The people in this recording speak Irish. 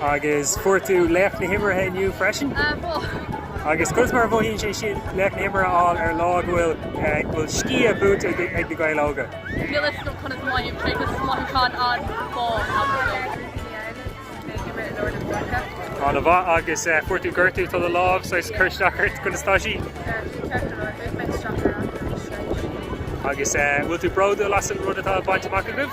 Agus fuair tú laoch na himeartha inniu freisin? Agus conas mar a mhothaíonn sé sin laoch na himeartha a fháil ar lá go bhfuil go bhfuil sciath buaite ag na Gaeil Óga? Ana mhaith agus fuair tú gortú tá do lámh saghas ag cur isteach ort, conas tá sí? Agus bhfuil tú bródúil as an rud atá bainte amach agaibh?